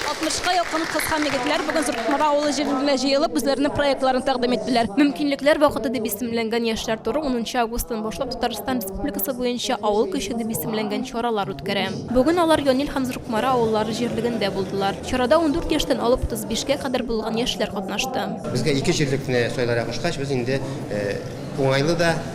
Алтмышка якын кыз һәм егетләр бүген Зуркукмара авылы җирендә җыелып, үзләренең проектларын тәкъдим иттеләр. Мөмкинлекләр вакыты дип исемләнгән яшьләр туры унынчы августтан башлап Татарстан Республикасы буенча Авыл көче дип исемләнгән чаралар үткәрә. Бүген алар Янил һәм Зуркукмара авыллары җирлегендә булдылар. Чарада ундүрт яшьтән алып утыз бишкә кадәр булган яшьләр катнашты. Безгә ике җирлекне сайларак очкач, без инде уңайлы да,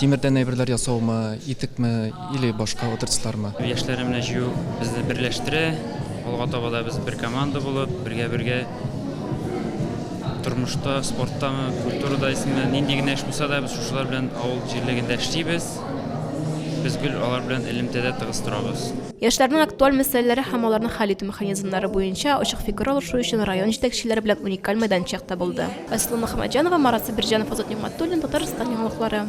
Тимердән әйберләр ясаумы, итекме или башка отрасльлармы? Яшьләр менә җыю безне берләштерә. Алга таба да без бер команда булып, бергә-бергә тормышта, спорттамы, культурада исеме, нинди генә эш булса да, без шушылар белән авыл җирлегендә эшлибез. Без гел алар белән элемтәдә тыгыз торабыз. Яшьләрнең актуаль мәсьәләләре һәм аларны хәл итү механизмнары буенча ачык фикер алышу өчен район җитәкчеләре белән уникаль мәйданчык табылды. Айсылу Мөхәммәтҗанова, Марат Сабирҗанов, Азат Нигъмәтуллин, Татарстан яңалыклары.